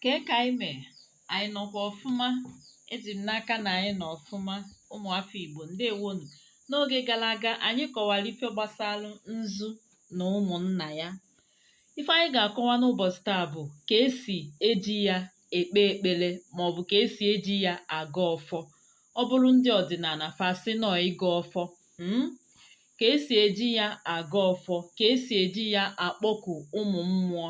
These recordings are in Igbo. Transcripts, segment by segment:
kee ka anyị mee anyị nọkwa ọfụma eji m n'aka na anyị nọ ọfụma ụmụafọ igbo ndewonu n'oge gara aga anyị kọwara ife gbasara nzu na ụmụnna ya ife anyị ga-akọwa n'ụbọchị taa bụ ka esi eji ya ekpe ekpere maọbụ ka esi eji ya agọ ọfọ ọ bụrụ ndị ọdịnala fa sị na ọ ịgọ ọfọ hmm? ka esi eji ya agọ ọfọ ka esi eji ya akpọku ụmụ mmụọ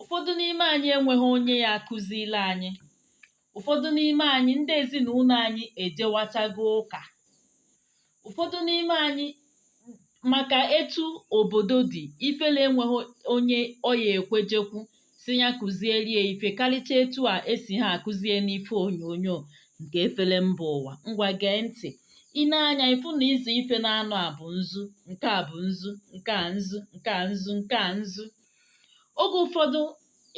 ụfọdụ n'ime anyị enweghị onye ya-akụziri anyị ụfọdụ n'ime anyị ndị ezinụlọ anyị ejewachago ụka ụfọdụ n'ime anyị maka etu obodo dị ifele enweghị onye ọ ya-ekwe jekwu sị ya kụzielie ife karịcha etu a esi ha akụzie n'ife onyonyo nke efere mba ụwa ngwa gee ntị i nee anya ị fụ na ịzụ ife naanọ a bụ nzu nke a bụ nzu nke a nzu nke a nzu nke a nzu oge ụfọdụ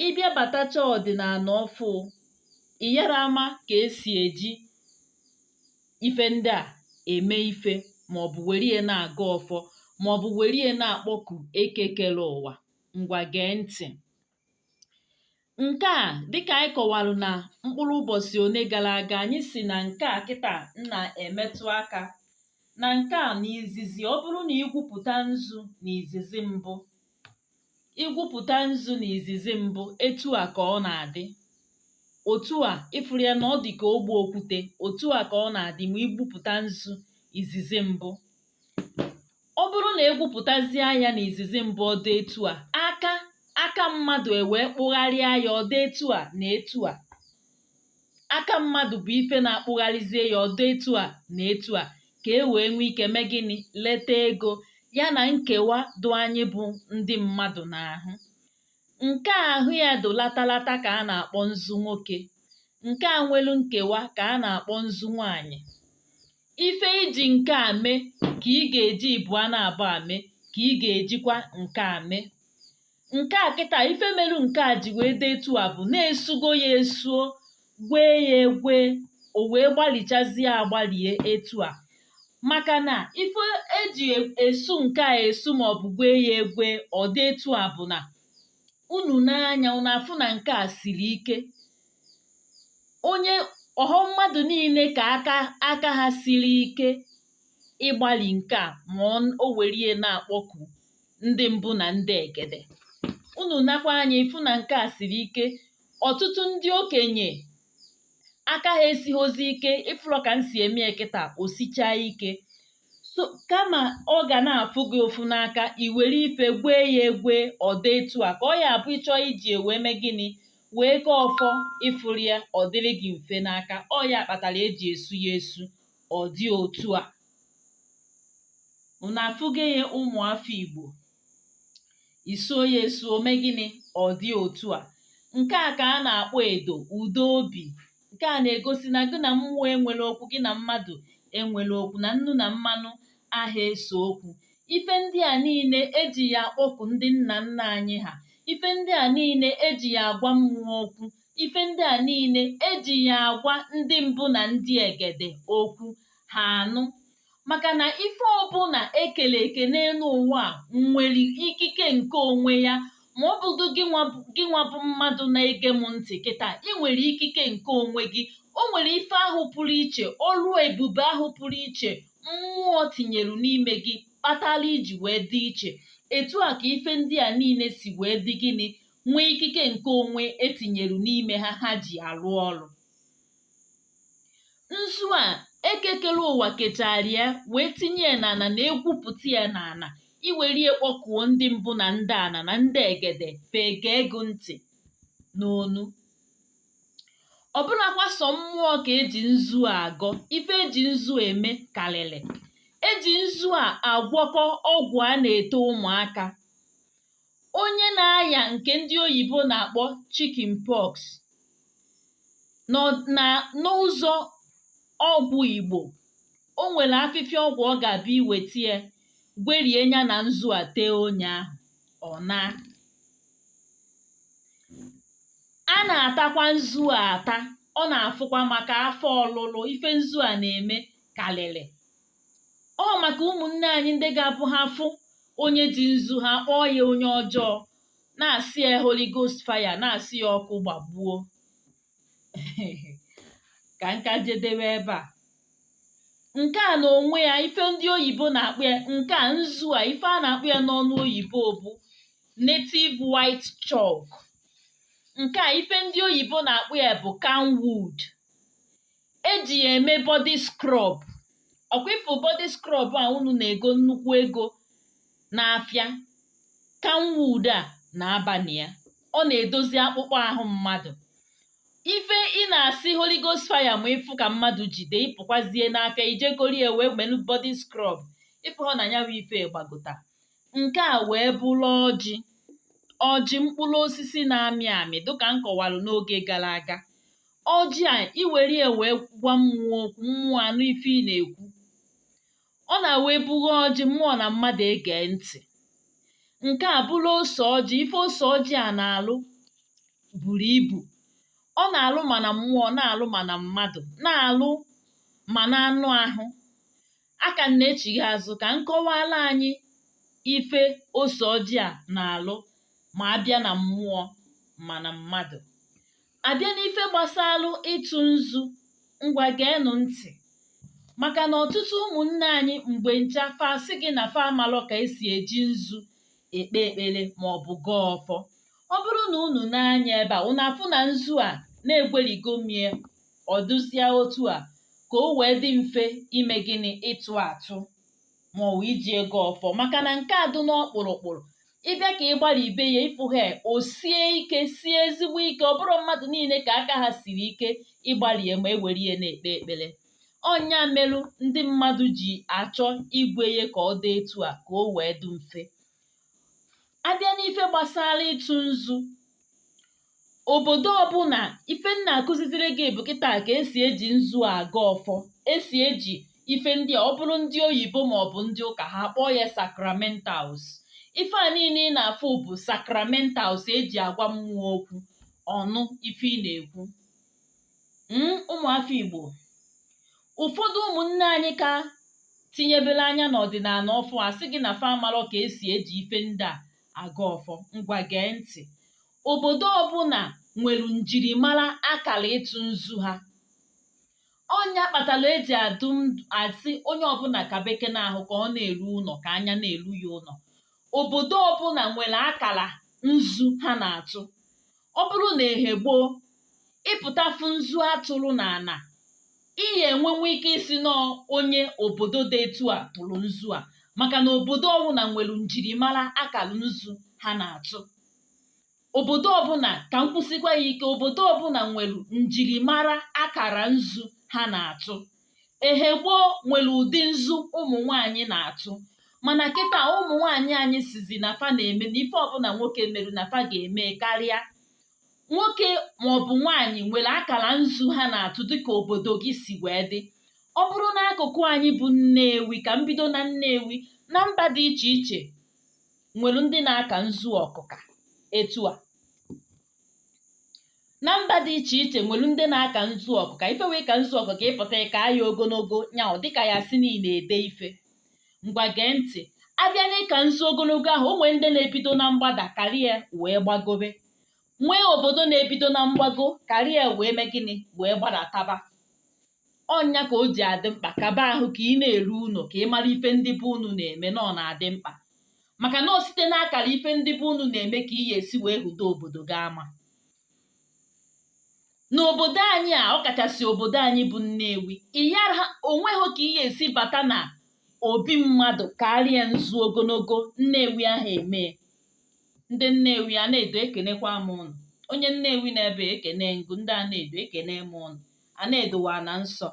ị bịa batacha ọdịnala ọfụụ ị yara ama ka esi eji ife ndị a eme ife maọbụ were ya na-agọ ọfọ maọbụ were ya na-akpọku eke kere ụwa ngwa gee ntị Nke a dịkà anyị kọwara na mkpụrụ ụbọchị one gara aga anyị si na nke a kịta na-emetụ aka na nke a na izizi ọ bụrụ na i gwupụta nzu na izizi mbụ i gwupụta nzu na izizi mbụ etu a ka ọ na-adị otu a ị fụrụ ya na ọ dị ka ogbe okwute otu a ka ọ na-adị ma i gwupụta nzu izizi mbụ ọ bụrụ na e gwupụtazie ya n'izizi mbụ ọ dụ etu a aka aka mmadụ ewee kpụgharịa ya ọ dụ etu a na etu a aka mmadụ bụ ife na-akpụgharịzie ya ọ dụ etu a na etu a ka e wee nwee ike mee gịnị leta ego ya na nkewa dụ anyị bụ ndị mmadụ n'ahụ nke ahụ ya dụ latalata ka a na-akpọ nzu nwoke nke a nwelu nkewa ka a na-akpọ nzu nwaanyị ife i ji nke a mee ka ị ga-eji ịbụa naabụ a mee ka ị ga-ejikwa nke a mee nke a kịta ife melu nke a ji wee dị etu a bụ na e sugo ya esuo gwee ya egwe o wee gbalichazie agbalie etu a maka na ife e ji esu nke a esu maọbụ gwee ya egwe ọ dị etu a bụ na unu nee anya unu afụ na nke a siri ike onye ọ họ mmadụ niile ka aka ha siri ike igbali nke a ma o werie na-akpọku ndị mbụ na ndị egede unu nekwa anya ị fụ na nke a siri ike ọtụtụ ndị okenye aka ha esighozi ike ị fụrọ ka m si eme ya kịta o sichaa ike so kama ọ ga na-afụ gị ụfụ n'aka i were ife gwee ya egwe ọ dị etu a ka ọ ya abụ ịchọ iji wee mee gịnị wee gọọ ọfọ ịfụrụ ya ọ dịrị gị mfe n'aka ọ ya kpatara eji esu ya esu ọ dị otu a unu afụgo ya ụmụafọ igbo isuo ya esu o mee gịnị ọ dị otu a nke a ka a na-akpọ edo udo obi Nke a na-egosi na gị na mmụọ enwerọ okwu, gị na mmadụ enwerọ okwu, na nnu na mmanụ aha ese okwu. Ife ndị a niile eji ya akpọku ndị nna nna anyị ha. Ife ndị a niile eji ya agwa mmụọ okwu. Ife ndị a niile eji ya agwa ndị mbụ na ndị egede okwu ha anụ. maka na ife ọbụla ekele eke n'elu ụwa a nwere ikike nke onwe ya ma ọ bụgo gị nwa bụ mmadụ na-ege m ntị kịta ị nwere ikike nke onwe gị o nwere ife ahụ pụrụ iche ọrụ ebube ahụ pụrụ iche mmụọ tinyere n'ime gị kpatara iji wee dị iche etu a ka ife ndị a niile si wee dị gịnị nwee ikike nke onwe etinyere n'ime ha ha ji arụ ọrụ nzu a eke kere ụwa kechara ya wee tinye ya n'ana na egwupụta ya n'ana i were ya kpọkuo ndị mbụ na ndị ana na ndị egede fa egee gị ntị n'ọnụ ọ bụrọkwa sọ mmụọ ka eji nzu a agọ ife eji nzu eme karịrị eji nzu a agwọkọ ọgwụ a na-ete ụmụaka onye na-aya nke ndị oyibo na-akpọ chicken pox n'ụzọ ọgwụ igbo o nwere afịfịa ọgwụ ọ ga-abụ iweta ya gwerie ya na nzu a tee onye ahụ ọ naa a na-atakwa nzu a ata ọ na-afụkwa maka afọ ọlụlụ ife nzu a na-eme karịrị ọ maka ụmụnne anyị ndị ga-abụ ha fụ onye ji nzu ha kpọọ ya onye ọjọọ na-asị ya Holy Ghost fire na-asị ya ọkụ gbagbuo ka nka jedebe ebe a nke a na onwe ya ife ndị oyibo na-akpọ ya nke a nzu a ife a na-akpọ ya n'ọnụ oyibo bụ native white chalk nke a ife ndị oyibo na-akpọ ya bụ camwood eji ya eme body scrub ọkwa ịfụ body scrub a unu na-ego nnukwu ego n'afịa camwood a na-aba na ya ọ na-edozi akpụkpọ ahụ mmadụ ife ị na-asị holy ghost fire ma ịfụ ka mmadụ jide ịpụkwazie n'afịa i jee goru ya wee melu body scrub ịfụ hụ na ya bụ ife gbagota nke a wee bụrụ ọjị ọjị mkpụrụ osisi na-amị amị dịka m kọwara n'oge gara aga ọjị a i were ya wee gwa mmụọ okwu mmụọ anụ ife ị na-ekwu ọ na-awa ebughe ọjị mmụọ na mmadụ egee ntị nke a bụrụ ose ọjị ife ose ọjị a na-alụ buru ibu ọ na-alụ ma na mmụọ na-alụ ma na mmadụ na-alụ ma na anụ ahụ a ka m na-echigha azụ ka m kọwara anyị ife ose ọjị a na-alụ ma a bịa na mmụọ ma na mmadụ a bịa n'ife gbasalụ ịtụ nzu ngwa geenụ ntị maka na ọtụtụ ụmụnne anyị mgbe ncha fa asị gị na fa amalọ ka esi eji nzu ekpe ekpere ma ọ bụ gọọ ọfọ ọ bụrụ na unu nee anya ebe a unu afụ na nzu a na egwerigo m ya ọ dụzie otu a ka o wee dị mfe ime gịnị ịtụ atụ ma ọ bụ iji ya gọọ ọfọ maka na nke a dụ n'ọkpụrụkpụrụ ị bịa ka ị gbaribe ya ị fụ ya o sie ike sie ezigbo ike ọ bụrọ mmadụ niile ka aka ha siri ike ịgbali ya ma e were ya na-ekpe ekpere ọ nya merụ ndị mmadụ ji achọ igwe ya ka ọ dị etu a ka o wee dị mfe a bịa n'ife gbasara ịtụ nzu obodo ọbụla ife m na-akụziziri gị bụ kịta ka esi eji nzu agọ ọfọ esi eji ife ndị a ọ bụrụ ndị oyibo ma ọ bụ ndị ụka ha kpọọ ya sacramentals ife a niile ị na-afụ bụ sacramentals eji agwa mmụọ okwu ọ nụ ife ị na-ekwu Mm, ụmụafọ igbo ụfọdụ ụmụnne anyị ka tinyebere anya n'ọdịnala ọfụụ asị gị na fa amarọ ka esi eji ife ndị a agọ ọfọ ngwa gee ntị obodo ọbụla nwere njirimara akara ịtụ nzu ha ọ nya kpatara eji adụ asị onye ọbụla ka beke n'ahụ ka ọ na-eru ụlọ ka anya na-eru ya ụlọ obodo ọbụla nwere akara nzu ha na-atụ ọ bụrụ na ehe gboo ị pụta fụ nzu a tụrụ n'ana ị ya-enwenwu ike ịsị na ọ onye obodo dị etu a tụrụ nzu a maka na obodo ọbụla nwere njirimara akara nzu ha na-atụ obodo ọbụla ka m kwusikwa ya ike obodo ọbụla nwere njirimara akara nzu ha na-atụ ehe gboo nwere ụdị nzu ụmụ nwaanyị na-atụ mana kịta ụmụ nwaanyị anyị sịzị na fa na-eme na ife ọbụla nwoke merụ na fa ga-eme karịa nwoke maọbụ nwaanyị nwere akara nzu ha na-atụ dịka obodo gị si wee dị ọ bụrụ n'akụkụ anyị bụ nnewi ka m bido na nnewi na mba dị iche iche nwere ndị na-aka nzu ọkụka etu a na mba dị iche iche nwere ndị na-aka nzu ọkụka ife wụ ịka nzu ọkụka ị pụta ka ya ogologo nya ọ dịka ya sị na ị na-ede ife ngwa gee ntị a bịa n'ịka nzu ogologo ahụ o nwere ndị na-ebido na mgbada kara ya wee gbagobe nwee obodo na-ebido na mgbago kara ya wee mee gịnị wee gbadataba ọ nya ka o ji adị mkpa kaba ahụ ka ị na-eru ụnọ ka ị mara ife ndị be unu na-eme na ọ na-adị mkpa maka na ọ site n'akara ife ndị be unu na-eme ka ị ga-esi wee hụdo obodo gị ama n'obodo anyị a ọ kachasị obodo anyị bụ Nnewi ịyara o nweghị ka ị ga-esi bata na obi mmadụ kaara ya nzu ogologo Nnewi aha eme ndị Nnewi Anaedo ekenekwa m ụnụ onye Nnewi nọ ebe a ekene m gị ndị Anaedo ekene m ụnụ Anaedo wụ ana nsọ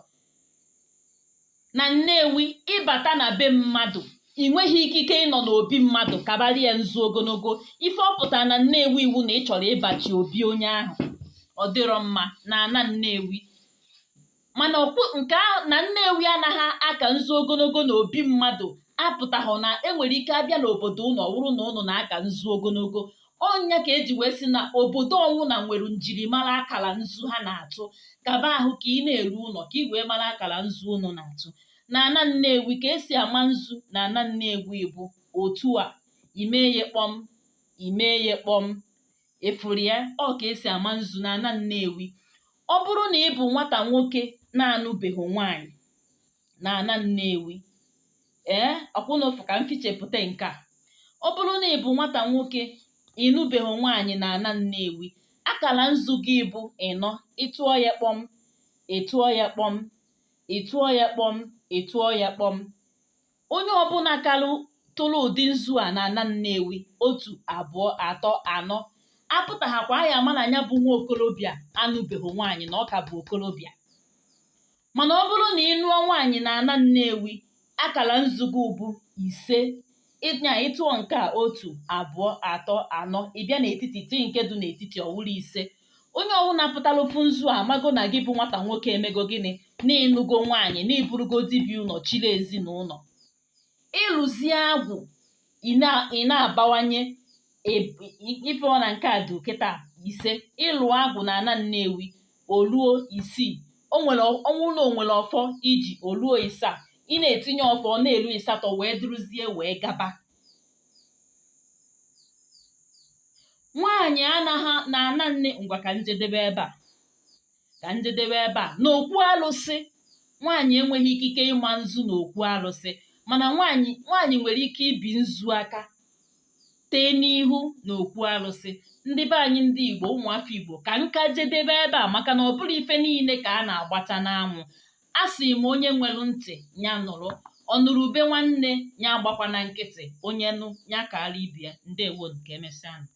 na Nnewi ị bata na be mmadụ i nweghị ikike ịnọ n'obi mmadụ kabara ya nzu ogologo ife ọ pụtara na Nnewi wụ na ị chọrọ ịbachi obi onye ahụ ọ dịrọ mma na ana Nnewi mana nke ahụ na Nnewi anaghị aka nzu ogologo na obi mmadụ apụtaghị na e nwere ike a bịa n'obodo ụnụ ọ wụrụ na ụnụ na-aka nzu ogologo ọ nya ka e ji wee sị na obodo ọnwụna nwere njirimara akara nzu ha na-atụ kaba ahụ ka ị na-eru ụnọ ka ị wee mara akara nzu ụnụ na-atụ na ana nnewi ka e si ama nzu na ana nnewi bụ otu a i mee ya kpọm i mee ya kpọm ị fụrụ ya ọ ka e si ama nzu na ana nnewi ọ bụrụ na ị bụ nwata nwoke na-anụbeghị nwaanyị na ana nnewi ee ọkwa ị na-afụ ka m fichepụta nke a ọ bụrụ na ị bụ nwata nwoke ị nụbeghị nwaanyị na ana nnewi akala nzu gị bụ ịnọ ị tụọ ya kpọm ị tụọ ya kpọm ị tụọ ya kpọm ị tụọ ya kpọm onye ọbụla kara tụrụ ụdị nzu a na ana nnewi otu abụọ atọ anọ a pụtahakwa a ya-ama na nya bụ nwa okorobịa anụbeghị nwaanyị na ọ ka bụ okorobịa mana ọ bụrụ na ị nụọ nwaanyị na ana Nnewi akara nzu gị bụ ise nya ị tụọ nke a otu abụọ atọ anọ ị bịa n'etiti tii nke dị n'etiti ọ wụrụ ise onye ọwụna pụtara fụ nzu a amago na gị bụ nwata nwoke emego gịnị na ị nụgo nwaanyị na ị bụrụgo di bi ụnọ chịrị ezinụlọ ị lụzie agwụ ị na-abawanye ị fụ na nke a dị kịta ise ị lụọ agwụ na ana nnewi o luo isii o nwere ọ wụ na o nwere ọfọ i ji o luo ịsaa ị na-etinye ọfọ ọ na-elu ịsatọ wee dụrụzie wee gaba nwaanyị anaghị na ana nne ngwa ka m jedebe ebe a ka njedebe ebe a na okwu alụsị nwaanyị enweghị ikike ịma nzu na okwu alụsị mana nwaanyị nwaanyị nwere ike ibi nzu aka tee n'ihu na okwu alụsị ndị be anyị ndị igbo ụmụafọ igbo ka nka jedebe ebe a maka na ọ bụrọ ife niile ka a na-agbacha n'anwụ a sị m onye nwere ntị ya nụrụ ọ nụrụ ube nwanne ya agbakwana nkịtị onye nụ ya kaara ibe ya ndewo nụ ka emesịa